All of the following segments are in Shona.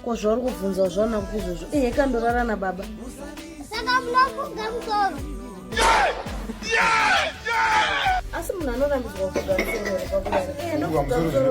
ko zvauri kubvunza zvaona kupi izvozvo ehe kandorara nababa saka munofunga musoro asi munhu anorambidzwa kugamusoro kwakurara ehe ndokugamusoro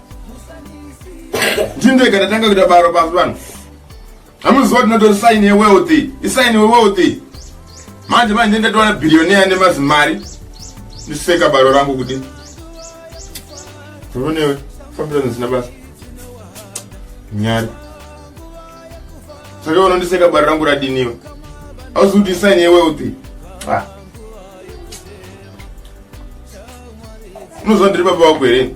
ndindoika ndatanga kuita baro pasi vanhu hamuziva kuti notori saini yewealthy isaini wewealthy manje manje ndatowana bhiriyoneya nemazimari ndiseka baro rangu kuti uronewe fambira zvisina basa nyari saka unondiseka baro rangu radiniwe auzi kuti isaini yewealthy ah. unoziva ndiri baba wako here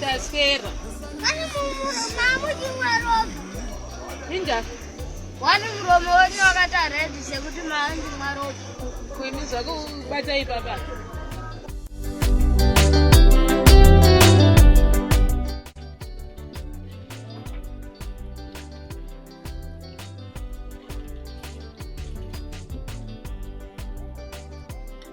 Taswera. Mani Wani muromo wenyu wakati aredi sekuti maandi mwaropa. Kwini zvako ubata ipapa.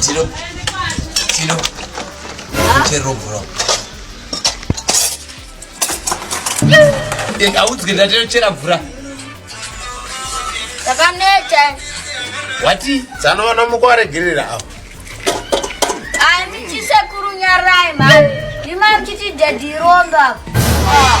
Tino. Tino. Chero bro. Eka eh, udzike ndatero chera mvura. Takaneta. Wati dzanoona mukware girira apo. Ani chisekuru nyarai mani. Ndima mchiti daddy romba. Ah.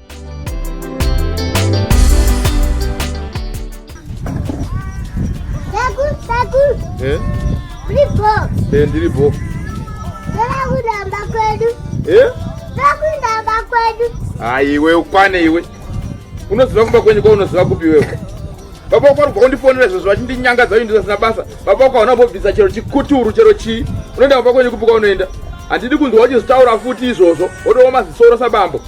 Eh? Eh, ndiri bho ndakudamba kwedu eh? ndakudamba kwedu hayi iwe ukwane iwe unoziva kumba kwenyu kwaunoziva kupi iwewe baba wako ari kubva kundifonera izvozvo vachindinyangadza uyu ndizasina basa baba wako hauna kumbobvisa chero chikuturu chero chii unoenda kumba kwenyu kupi kwaunoenda handidi kunzwa wachizitaura futi izvozvo wotooma zisoro sabambo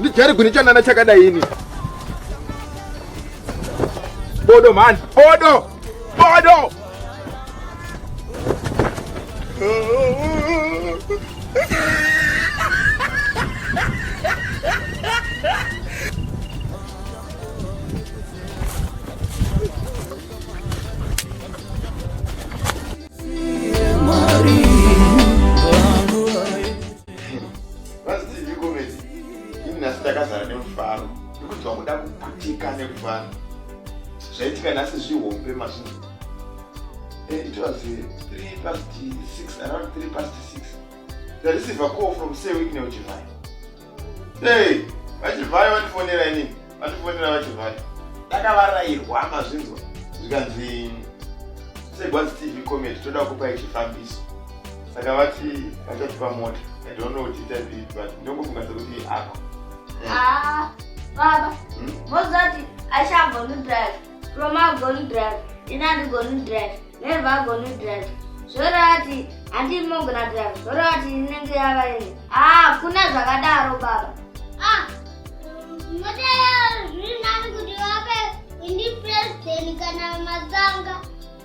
Ndijari gwini chanana chakadai ini. Bodo man, bodo. Bodo. vazidii komedi ini nhasi ndakazara nemufaro ndikunzwa kuda kuputika nekufara zvaitika nhasi zvihombe mazvinji eh, it was 3 eh, past 6 around 3 past 6 the receiver call from sewikneuchivai hey vachivai vandifonera inini vandifonera vachivhara ndakavarairwa mazvinzwa zvikanzi segwazi tv comedy toda kupai chifambiso saka vati vachatipa mota i don't know kuti itazii but ndongofunga sekuti apa ah, baba hmm? mozoti achambonudrive From agoni drive, ini andigoni drive, neva agoni drive. Zvorati handii mogona drive, zvorati inenge yava ini. Ah, kuna zvakadaro baba. Ah, mote zviri nani kuti vape indi president kana mazanga.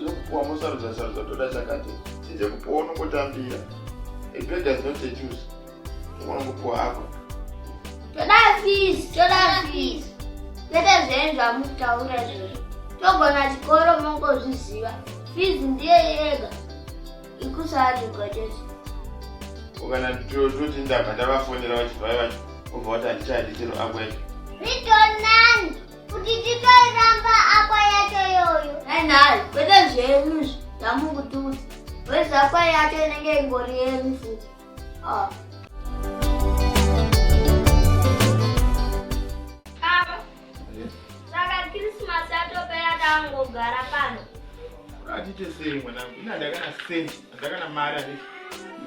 zvekupuwa mosarudza sarudza toda chakati chinze kupuwa unongotambira ebedazinotechus unongopuwa apa toda fees toda fees kwete zvenyu zvamutaura izvozvo togona chikoro mongozviziva fees ndiye yega ikusaatigotezi ukana toti ndabva ndavafonera vachibva vacho obva wati handichadi chero ako yacho ritonani kuti titoiramba ako yacho yoyo ainhai kwete zvenyu izvi ndamukutudza wezako yacho inenge ingori yenyu futi ah. Saka Christmas yatopera tangogara pano. Atite sei mwanangu, ina ndakana cent, ndakana mari ane.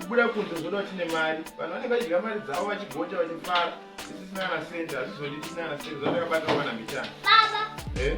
Kubuda kunze zvoda kuti ne mari. Vanhu vanenge vachidya mari dzavo vachigonja vachifara. Sisi sina na cent, azvizodi tisina na cent, zvatakabata wana mitana. Baba. Eh?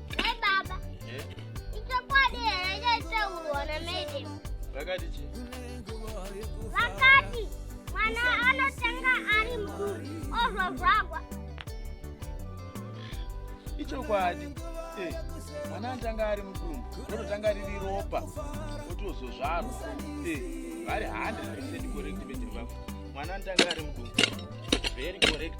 Hey baba. Eh? Ichokwadi here chaitaurwa naMaiden? Vakati chi? Vakati mwana anotanga ari mukuru ozvozvagwa. Ichokwadi. Eh, mwana anotanga ari mukuru, ototanga riri ropa, otozozvarwa. Eh, vari 100% correct bedri vako. Mwana anotanga ari mukuru. Very correct.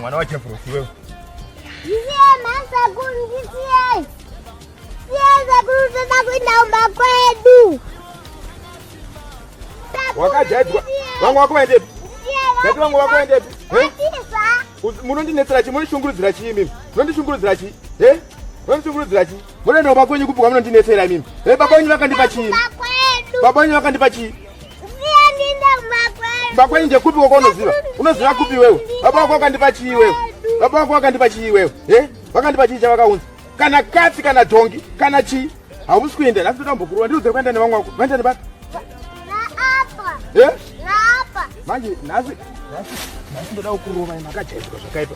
mwana wacho profi wewe wakajaidzwa vangu wako vaendepi dati vangu wako vaendepi munondinetsera chii munondishungurudzira chii mimi munondishungurudzira chii Vanotungurudzira chii? Mbona ndo bakwenyu kupi kwamuna ndinetsera mimi? He bakwenyu vakandipa chii? Bakwenyu vakandipa chii? Bakwenyu ndekupi kwako unoziva? Unoziva kupi wewe? Baba wako vakandipa chii wewe? Baba wako vakandipa chii wewe? He? Vakandipa chii chavakaunza? Kana katsi kana dhongi kana chii? Hausi kuenda nhasi totambokurwa ndiri udzere kuenda nevamwe wako. Vaenda nebata? He? Manje nhasi nhasi nhasi ndoda kukurova makajaidzwa zvakaipa.